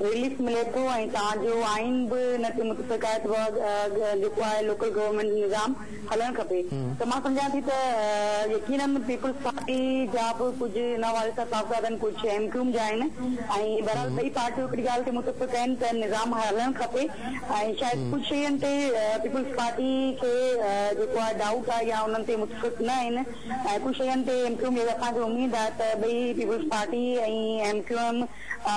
رليف ملي ٿو ۽ تان جو آئين به ان تي متفق آهي ته جيڪو آهي لوڪل گورنمينٽ جو نظام هلڻ کپي ته مان سمجهان ٿي ته يقيناً پيپلز پارٽي جا به ڪجهه ان حوالي سان صاحبزادا آهن ڪجهه ايم ڪيوم جا آهن ۽ بهرحال ٻئي پارٽيون هڪڙي ڳالهه تي متفق آهن ته نظام هلڻ کپي ۽ شايد ڪجهه شين تي پيپلز پارٽي کي جيڪو آهي ڊائوٽ آهي يا انهن تي متفق نه آهن ۽ ڪجهه شين تي ايم ڪيوم جي اسان کي اميد آهي ته ٻئي پيپلز پارٽي ۽ ايم ڪيوم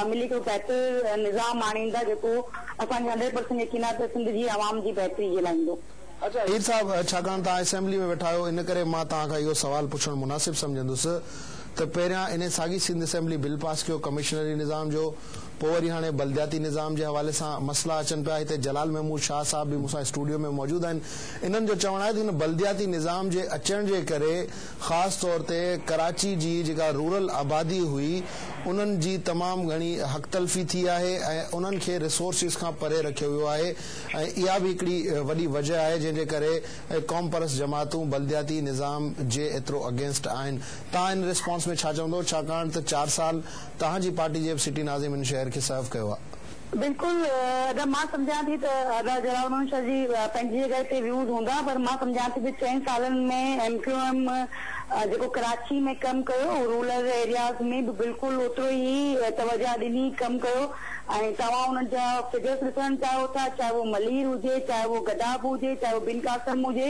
ملي هڪڙو بهتر نظام آڻيندا جيڪو اسان کي هنڊريڊ پرسنٽ يقين آهي ته سنڌ جي عوام جي بهتري جي لاء ايندو. اچا هير صاحب ڇاڪاڻ توهان اسيمبلي ۾ ويٺا آهيو ان ڪري مان توهان کان اهو سوال پڇڻ مناسب سمجهندس ته پهريان انهي ساڳي سنڌ اسيمبلي بل پاس ڪيو ڪمشنري نظام جو پوء وري هاڻي بلدياتي نظام جي حوالي سان مسئلا اچن پيا هتي جلال محمود شاهه صاحب به مون سان اسٽوڊيو ۾ موجود آهن انهن جو چوڻ آهي ته هن بلدياتي نظام جي اچڻ جي ڪري خاص طور تي ڪراچي جي جيڪا رورل آبادي هئي انهن جي تمام گهڻي حق تلفي ٿي آهي ۽ انهن کي ريسورسز کان پري رکيو ويو آهي ۽ اها به هڪڙي وڏي وجه آهي جنهن جي ڪري قومپرست جماعتون بلدياتي نظام جي ايترو اگينسٽ آهن توهان ان ريسپانس ۾ ڇا چوندو ڇاڪاڻ ته چار سال توهان جي پارٽي جي به سٽي ناظم ان شهر کي سرو ڪيو آهي. بلڪل ادا مان سمجهان ٿي ته ادا جلال منشا جي پنهنجي جڳهه تي ويوز هوندا پر مان سمجهان ٿي ته چئن سالن ۾ ايم ڪيو ايم جيڪو ڪراچي ۾ ڪم ڪيو رولر ايرياز ۾ به بلڪل اوترو ئي توجه ڏني ڪم ڪيو ۽ توهان انهن جا فگرس ڏسڻ چاهيو ٿا چاهي اهو ملير هجي چاهي اهو گداب هجي چاهي اهو بن قاسم هجي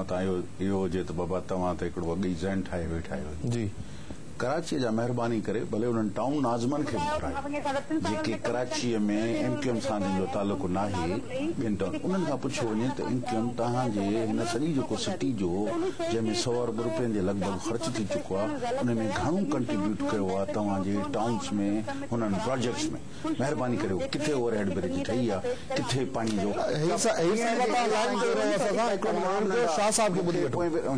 متان اهو اهو هجي ته بابا توهان ته هڪڙو اڳ ئي ذهن ٺاهي ويٺا آهيو. جي. ڪراچيء جا مهرباني ڪري ڀلي انهن ٽائون ناظمن کي موٽايو جيڪي ڪراچيء ۾ ايم ڪيو ايم سان جن جو تعلق ناهي ٻين ٽائون انهن کان پڇيو وڃي ته ايم ڪيو ايم توهان جي هن سڄي جيڪو سٽي جو جنهن ۾ سؤ ارب روپين جي لڳ ڀڳ خرچ ٿي چڪو آهي انهي ۾ گهڻو ڪنٽريبيوٽ ڪيو آهي توهان جي ٽائونس ۾ هنن پراجيڪٽس ۾. مهرباني ڪريو ڪٿي اوور هيڊ برج ٺهي يا ڪٿي پاڻي جو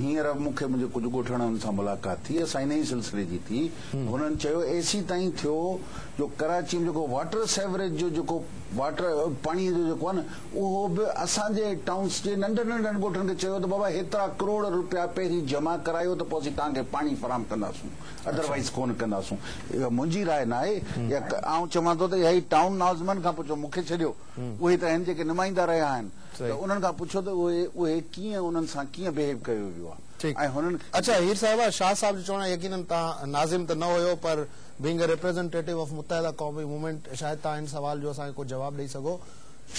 هينئر مون کي منهنجي ڪجهه ڳوٺاڻن سان ملاقات ٿي اسان ان ئي سلسلي جي ٿي هنن چيو اي سي تائين ٿيو جو ڪراچي ۾ جيڪو واٽر سيوريج جو جيڪو واٽر پاڻي جو جيڪو آهي نه اهو به اسان جي ٽائونس جي ننڍن ننڍن ڳوٺن کي چيو ته بابا هيترا ڪروڙ روپيا پهرين جمع ڪرايو ته پوء اسين توهان کي پاڻي فراهم ڪنداسون ادر وائيز ڪونه ڪنداسون اها منهنجي راء ناهي يا آئون چوان ٿو ته اها ئي ٽائون نازمن کان پڇو مونکي ڇڏيو اهي ته آهن جيڪي نمائندا رهيا آهن ته انهن کان پڇو ته اهي اهي ڪيئن انهن سان ڪيئن بهيو ڪيو ويو آهي ۽ هنن کي اچا هير صاحبه شاهه صاحب جو چوڻ آهي يقينن تان ناظم ته نه هيو پر being a representative of Muttahida قومي موومينٽ شايد تان هن سوال جو اسان کي ڪو جواب ڏئي سگهو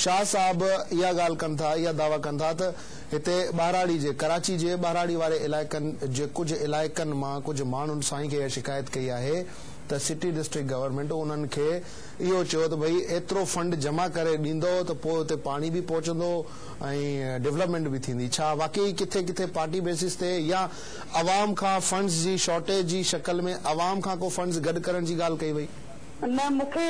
شاهه صاحب اها ڳالهه ڪن ٿا، اها دعويٰ ڪن ٿا ته هتي ٻهراڙي جي، ڪراچي جي ٻهراڙي واري علائقن جي ڪجهه علائقن مان ڪجهه ماڻهن سائين کي اها شڪايت ڪئي آهي ته سٽي ڊسٽرڪٽ گورنمينٽ انهن کي اهو چيو ته ڀئي ايترو فنڊ جمع ڪري ڏيندؤ ته پوء اتي پاڻي به پهچندو ۽ ڊولپمينٽ به ٿيندي، ڇا واقعي ڪٿي ڪٿي پارٽي بيسز تي يا عوام کان فنڊز جي شارٽيج جي شڪل ۾ عوام کان ڪو فنڊز گڏ ڪرڻ جي ڳالهه ڪئي وئي؟ نه مون کي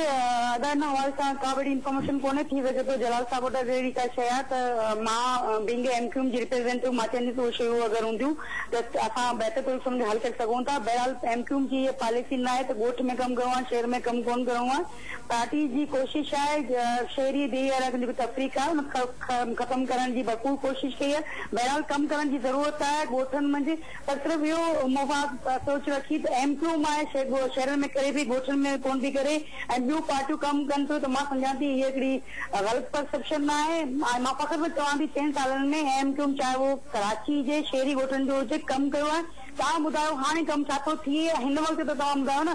ادا ان حوالي سان ڪا وڏي انفارميشن ڪونهي ٿي سگهي ٿو جلال صاحب وٽ اگر اهڙي ڪا شيء آهي ته مان being A M Q M جي ريپريزينٽيو مان چونديس اهي شيون اگر هونديون ته اسان بهتر طريقي سان ان کي حل ڪري سگهون ٿا بهرحال ايم ڪيو ايم جي اها پاليسي ناهي ته ڳوٺ ۾ ڪم ڪرڻو آهي شهر ۾ ڪم ڪونه ڪرڻو آهي پارٽي جي ڪوشش آهي شهري بي اراڪن جو جيڪو تفريق آهي ان کي ختم ڪرڻ جي ڀرپور ڪوشش ڪئي آهي بهرحال ڪم ڪرڻ جي ضرورت آهي ڳوٺن منجهه پر صرف اهو مفاد سوچ رکي ته ايم ڪيو ايم آهي سي شهرن ۾ ڪري ٿي ڳوٺن ۾ ڪونه ٿي ڪري ۽ ٻيون پارٽيون ڪم ڪن ٿيون ته مان سمجهان ٿي هيء هڪڙي غلط پرسيپشن نه آهي ۽ مان فخر سان چوان ٿي چئن سالن ۾ ايم ڪيو ايم چاهي اهو ڪراچي جي شهري ڳوٺن جو هجي ڪم ڪيو آهي توهان ٻڌايو هاڻي ڪم ڇا ٿو ٿئي هن وقت ته توهان ٻڌايو نه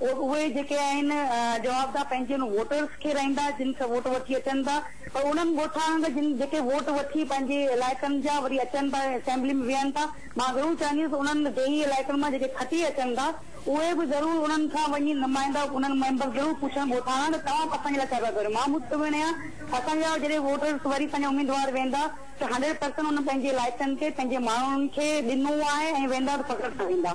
ووٽ اهي جيڪي آهن جوابده پنهنجي ان ووٽرز کي رهندا جن کان ووٽ وٺي اچن ٿا پر انهن ڳوٺاڻن کان جن جيڪي ووٽ وٺي پنهنجي علائقن جا وري اچن ٿا اسيمبلي ۾ ويهن ٿا مان ضرور چاهنديس انهن ڊيهي علائقن مان جيڪي کٽي اچن ٿا اهي به ضرور انهن کان وڃي نمائندا انهن ميمبرز ضرور پڇن ڳوٺاڻا ته توهان اسان جي لاء ڇا پيا ڪريو مان مطمئن آهيان اسان جا جڏهن ووٽرز وري پنهنجا اميدوار ويندا ته هنڊريڊ پرسنٽ انهن پنهنجي علائقن کي پنهنجي ماڻهن کي ڏنو آهي ۽ ويندا ته فخر سان ويندا.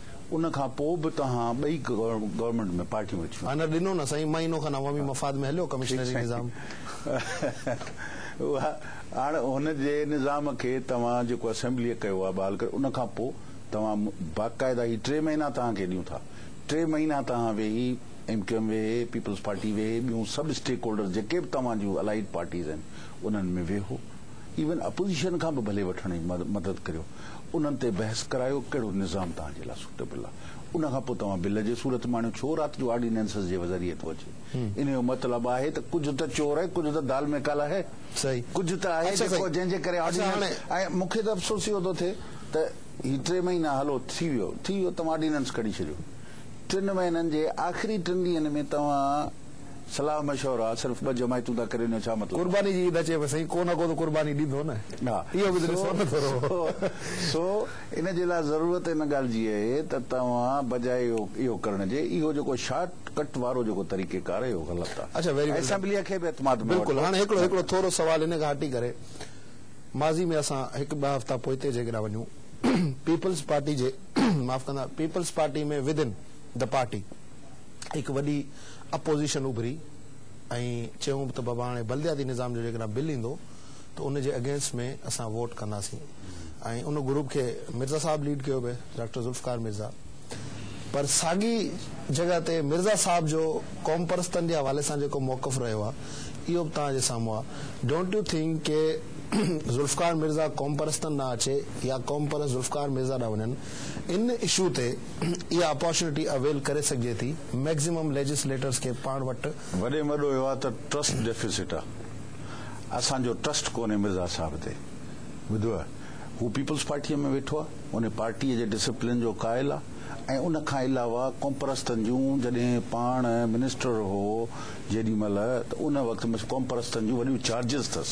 ان کان پوء به توهان ٻئي گورنمينٽ ۾ پارٽيون وٺيون. نه ڏنو نه سائين مهينو کن عوامي مفاد ۾ هليو ڪمشنري نظام. اها هاڻ هن جي نظام کي توهان جيڪو اسيمبليء ڪيو آهي بحال ڪري ان کان پوء توهان باقاعده هي ٽي مهينا توهان کي ڏيون ٿا ٽي مهينا توهان ويهي ايم ڪيو ايم ويهي پيپلز پارٽي ويهي ٻيون سڀ اسٽيڪ هولڊرز جيڪي به توهان جون الائيڊ پارٽيز آهن انهن ۾ ويهو ايون اپوزيشن کان به ڀلي وٺڻ جي مدد ڪريو انهن تي بحث ڪرايو ڪهڙو نظام توهان جي لاء سوٽيبل آ ان کان پوء توهان بل جي صورت ۾ آڻيو ڇو رات جو آرڊيننسز جي ذريعي ٿو اچي ان جو مطلب آهي ته ڪجهه ته چور آهي ڪجهه ته دال مي ڪالا هي ڪجهه ته آهي جيڪو جنهن جي ڪري آرڊيننس ۽ مون کي ته افسوس اهو ٿو ٿئي ته هي ٽي مهينا هلو ٿي ويو ٿي ويو توهان آرڊيننس ڪڍي ڇڏيو ٽن مهينن جي آخري ٽن ڏينهن ۾ توهان صلاح مشورا صرف ٻه جماعتون ٿا ڪرين جو ڇا مطلب آهي. قرباني جي عيد اچي پئي سائين ڪو نه ڪو ته قرباني ڏيندو نه اهو به ته ڏسو نه ٿورو. سو ان جي لاء ضرورت ان ڳالهه جي اهي ته توهان بجاء اهو ڪرڻ جي اهو جيڪو شارٽ ڪٽ وارو جيڪو طريقي ڪار اهو غلط آهي اچا ويري ويل ڊن اسيمبليء کي به اعتماد ۾ بلڪل وٺو هاڻي هڪڙو هڪڙو ٿورو سوال ان کان هٽي ڪري ماضي ۾ اسان هڪ ٻه هفتا پوئتي جيڪڏهن وڃون پيپلز پارٽي جي معاف ڪندا peoples party ۾ within the party هڪ وڏي اپوزيشن اڀري ۽ چيون ته بابا هاڻي بلدياتي نظام جو جيڪڏهن بل ايندو ته ان جي اگينسٽ ۾ اسان ووٽ ڪنداسين ۽ ان گروپ کي مرزا صاحب ليڊ ڪيو پئي ڊاڪٽر ذوالفقار مرزا پر ساڳي جڳهه تي مرزا صاحب جو قومپرستن جي حوالي سان جيڪو موقف رهيو آهي اهو به توهان جي سامهون آهي ڊونٽ يو ٿنڪ ڪي ذوالفقار مرزا قومپرستن ڏانهن اچي يا قومپرست ذوالفقار مرزا ڏانهن وڃن ان اشو تي اها اپارچونيٽي اويل ڪري سگهجي ٿي ميڪزيمم ليجسليٽرز کي پاڻ وٽ. وڏي مڏو اهو آ ته ٽرسٽ ڊيفيسٽ آ اسان جو ٽرسٽ ڪونهي مرزا صاحب تي ٻڌو آ هو پيپلز پارٽيء ۾ ويٺو آ ان پارٽيء جي ڊسپلين جو قائل آ ۽ ان کان علاوه قومپرستن جون جڏهن پاڻ منسٽر هو جيڏي مهل ته ان وقت قومپرستن جون وڏيون چارجز ٿس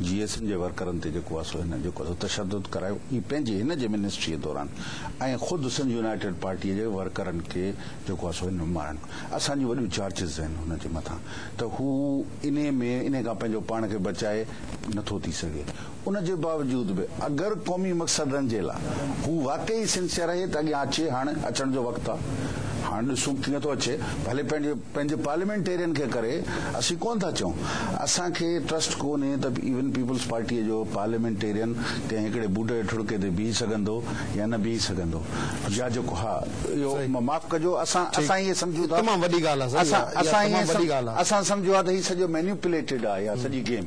جي ايس اين جي ورڪرن تي جيڪو آهي سو هن جيڪو آهي سو تشدد ڪرايو اهي پنهنجي هن جي منسٽريء دوران ۽ خود سنڌ يونائيٽيڊ پارٽيء جي ورڪرن کي جيڪو آهي سو هن مارڻ اسان جون وڏيون چارجز آهن هن جي مٿان ته هو انهي ۾ انهي کان پنهنجو پاڻ کي بچائي نٿو ٿي سگهي ان جي باوجود به اگر قومي مقصدن جي لاء هو واقعي سنسيئر آهي ته اڳيان اچي هاڻ اچڻ جو وقت آهي هاڻ ڏسون ڪيئن ٿو اچي ڀلي پنهنجي پنهنجي پارليامينٽيرين کي ڪري اسين ڪونه ٿا چئون اسان کي ٽرسٽ ڪونهي ته ايون پيپلز پارٽي جو پارليامينٽيرين ڪنهن هڪڙي بوٽ جي ٺڙڪي تي بيهي سگهندو يا نه بيهي سگهندو يا جيڪو ها اهو معاف ڪجو اسان اسان ائين سمجهون ٿا اسان اسان ائين اسان سمجهيو آهي ته هي سڄو مينيوپليٽيڊ آهي اها سڄي گيم.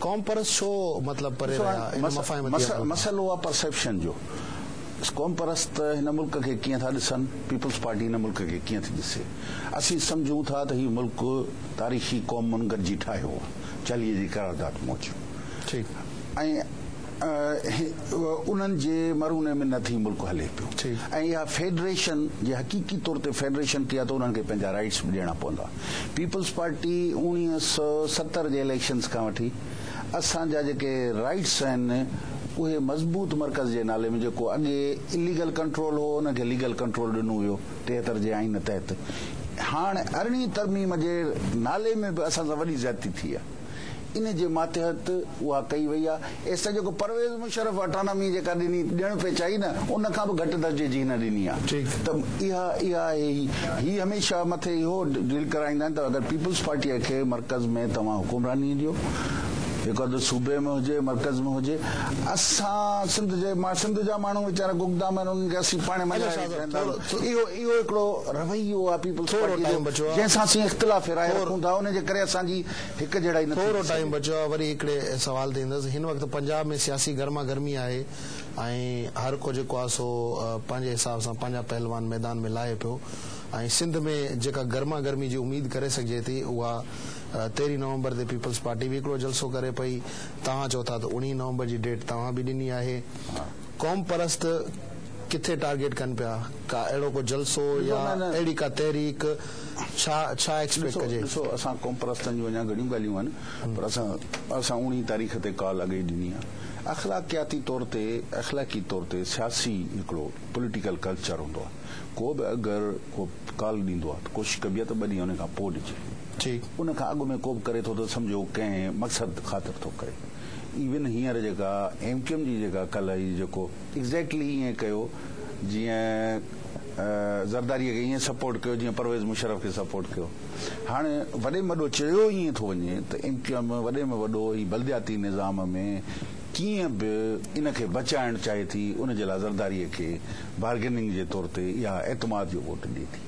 قوم پرست ڇو مطلب پري ڏسو رهيا ان مفاهيم تي عمل هاڻ ڪن. مسئلو آهي پرسيپشن جو قوم پرست هن ملڪ کي ڪيئن ٿا ڏسن پيپلز پارٽي هن ملڪ کي ڪيئن ٿي ڏسي اسين سمجهون ٿا ته هي ملڪ تاريخي قومن گڏجي ٺاهيو آهي چليي جي قرارداد موجب ٺيڪ. ۽ انهن جي مرهوني ۾ نه ٿي ملڪ هلي پيو ۽ اها فيڊريشن جي حقيقي طور تي فيڊريشن ٿي آ ته انهن کي پنهنجا رائيٽس به ڏيڻا پوندا پيپلز پارٽي اوڻيهه سؤ ستر جي اليڪشنز کان وٺي اسان جا جيڪي رائيٽس آهن اهي مضبوط مرڪز جي نالي ۾ جيڪو اڳي اليگل ڪنٽرول هو انهن کي ليگل ڪنٽرول ڏنو ويو ٽيهتر جي آئين تحت هاڻ ارڙهين ترميم جي نالي ۾ به اسان سان وڏي زيادتي ٿي آ. ان جي ماتحت اها ڪئي وئي آهي، ايستائين جيڪو پرويز مشرف اٽانامي جيڪا ڏني ڏيڻ پيچائي نه ان کان به گهٽ درجي جي هن ڏني آهي ته اها اها آهي هي هي هميشه مٿي اهو ڊيل ڪرائيندا آهن ته اگر پيپلز پارٽي کي مرڪز ۾ توهان حڪمراني ڏيو هڪ اڌ صوبي ۾ هجي مرڪز ۾ هجي اسان سنڌ جي مان سنڌ جا ماڻهو ويچارا گگدام آهن انهن کي اسين پاڻ مڃائي ويٺا آهيون اهو اهو هڪڙو رويو آهي پيپلز پارٽي جو جنهن سان اسين اختلاف راء رکون ٿا ان جي ڪري اسان جي هڪ جهڙائي نه ٿي ٿورو ٽائيم سگهي. بچيو آهي وري هڪڙي سوال تي ايندس هن وقت پنجاب ۾ سياسي گرما گرمي آهي ۽ هر ڪو جيڪو آهي سو پنهنجي حساب سان پنهنجا پهلوان ميدان ۾ لاهي پيو ۽ سنڌ ۾ جيڪا گرما گرمي جي اميد ڪري سگهجي ٿي اها تيرهين نومبر تي پيپلز پارٽي به هڪڙو جلسو ڪري پئي توهان چئو ٿا ته اوڻيهين نومبر جي ڊيٽ توهان به ڏني آهي قوم پرست ڪٿي ٽارگيٽ ڪن پيا؟ ڪا اهڙو ڪو جلسو يا اهڙي ڪا تحريڪ ڇا ڇا ايڪسپيڪٽ ڪجي؟ ڏسو اسان قوم پرستن جون اڃا گهڻيون ڳالهيون آهن پر اسان اسان اوڻي تاريخ تي ڪال اڳ ئي ڏني آهي اخلاقياتي طور تي اخلاقي طور تي سياسي هڪڙو پوليٽيڪل ڪلچر هوندو آهي ڪو به اگر ڪو ڪال ڏيندو آهي ته ڪوشش ڪبي آهي ته ٻه ڏينهن ان کان پوء ڏجي ان کان اڳ ۾ ڪو به ڪري ٿو ته سمجهو ڪنهن مقصد خاطر ٿو ڪري. ايون هينئر جيڪا ايم ڪيو ايم جي جيڪا ڪلهه هي جيڪو ايگزيڪٽلي ايئن ڪيو جيئن زرداري کي ايئن سپورٽ ڪيو جيئن پرويز مشرف کي سپورٽ ڪيو هاڻ وڏي ۾ وڏو چيو ايئن ٿو وڃي ته ايم ڪيو ايم وڏي ۾ وڏو هي بلدياتي نظام ۾ ڪيئن به ان کي بچائڻ چاهي ٿي ان جي لاء زرداري کي بارگيننگ جي طور تي يا اعتماد جو ووٽ ڏي ٿي.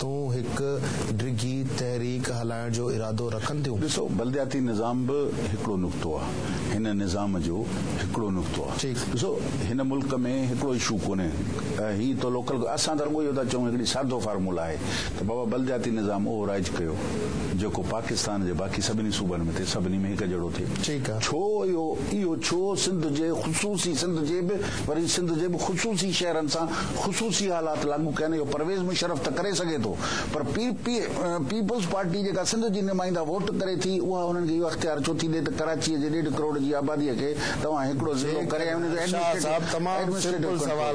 تون هڪ ڊگهي تحريڪ هلائڻ جو ارادو رکن ٿيون. ڏسو بلدياتي نظام به هڪڙو نقطو آ هن نظام جو هڪڙو نقطو آ ٺيڪ. ڏسو هن ملڪ ۾ هڪڙو اشو ڪونهي هي تو لوڪل اسان ته رڳو اهو ٿا چئون هڪڙي سادو فارمولا آهي ته بابا بلدياتي نظام اهو رائج ڪيو جيڪو پاڪستان جي باقي سڀني صوبن ۾ ٿئي سڀني ۾ هڪ جهڙو ٿئي ٺيڪ آ. ڇو اهو اهو ڇو سنڌ جي خصوصي سنڌ جي به وري سنڌ جي به خصوصي شهرن سان خصوصي حالات لاڳو ڪين اهو پرويز مشرف ته ڪري سگهي ٿو پر پي پي پيپلز پارٽي جيڪا سنڌ جي نمائنده ووٽ ڪري ٿي اها انهن کي اهو اختيار ڇو ٿي ڏي ته ڪراچي جي ڏيڍ ڪروڙ جي آبادي کي توهان هڪڙو ضلعو ڪري ۽ ان جو ايڊمنسٽريٽو ڪنٽرول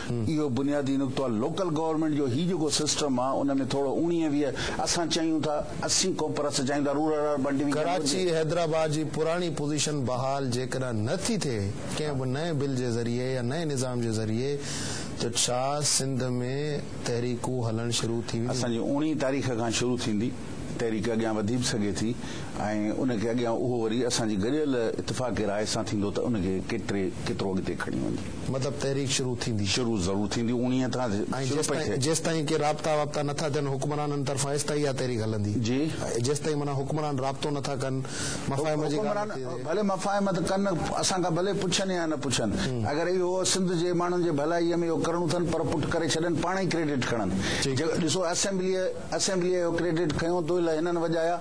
اهو بنيادي نقطو آهي لوڪل گورنمينٽ جو هي جيڪو سسٽم آهي ان ۾ ٿورو اوڻيهه ويهه اسان چاهيون ٿا اسين ڪون پر اسان چاهيون ٿا رورل اربن ڊويزن هجي. ڪراچي حيدرآباد جي پراڻي پوزيشن بحال جيڪڏهن نه ٿي ٿئي ڪنهن به نئين بل جي ذريعي يا نئين نظام جي ذريعي ته ڇا سنڌ ۾ تحريڪون هلڻ شروع ٿي وينديون. اسان جي اوڻيهه تاريخ کان شروع ٿيندي تحريڪ اڳيان وڌي به سگهي ٿي ۽ ان کي اڳيان اهو وري اسان جي گڏيل اتفاق راء سان ٿيندو ته ان کي ڪيتري ڪيترو اڳتي کڻي وڃي. مطلب تحريڪ شروع ٿيندي. شروع ضرور ٿيندي اوڻيهه کان ۽ شروع پئي جيستائين ٿئي. جيستائين ڪي رابطا وابطا نه ٿا ٿين حڪمرانن طرفان ايستائين اها تحريڪ هلندي. جي. جيستائين معنيٰ حڪمران رابطو نه ٿا ڪن مفاهمت جي ڳالهه حڪمران نٿي ٿئي. ڀلي مفاهمت ڪن اسان کان ڀلي پڇن يا نه پڇن اگر اهو سنڌ جي ماڻهن جي ڀلائي ۾ اهو ڪرڻو اٿن پر پٽ ڪري ڇڏن پاڻ ئي ڪريڊٽ کڻن ٺيڪ. جيڪو ڏسو اسيمبليء اسيمبليء اهو ڪريڊٽ کنيو دوئي لاء هنن وڄايا.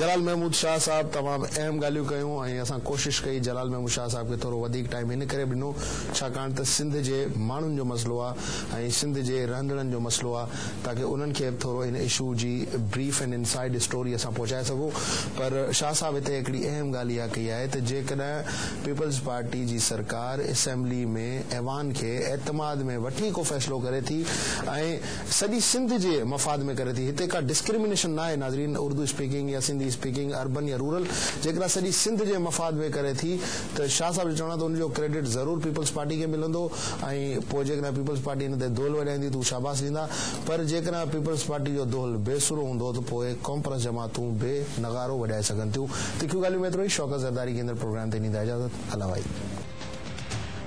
جلال محمود شاهه صاحب تمام اهم ڳالهيون ڪيون ۽ اسان ڪوشش ڪئي جلال محمود شاهه صاحب کي ٿورو وڌيڪ ٽائيم ان ڪري به ڏنو ڇاڪاڻ ته سنڌ جي ماڻهن جو مسئلو آهي ۽ سنڌ جي رهندڙن جو مسئلو آهي تاڪه انهن کي به ٿورو ان اشو جي بريف ۽ ان سائيڊ اسٽوري اسان پهچائي سگهون پر شاهه صاحب هتي هڪڙي اهم ڳالهه اها ڪئي آهي ته جيڪڏهن پيپلز پارٽي جي سرڪار اسيمبلي ۾ ايوان کي اعتماد ۾ وٺي ڪو فيصلو ڪري ٿي ۽ سڄي سنڌ جي مفاد ۾ ڪري ٿي هتي ڪا ڊسڪريمنيشن ناهي ناظرين اردو اسپيڪنگ يا سنڌي اسپيڪنگ اربن يا رورل جيڪڏهن سڄي سنڌ جي مفاد ۾ ڪري ٿي ته شاهه صاحب جو چوڻ آهي ته ان جو ڪريڊٽ ضرور پيپلز پارٽي کي ملندو ۽ پوء جيڪڏهن پيپلز پارٽي ان تي دهل وڄائيندي ته هو شاباس ڏيندا پر جيڪڏهن پيپلز پارٽي جو دهل بي سرو هوندو ته پوء قومپرست جماعتون به نغارو وڄائي سگهن ٿيون تکيون ڳالهيون ۾ ايترو ئي شوڪت زرداري ڪيندڙ پروگرام تي ڏيندا اجازت الله وائي.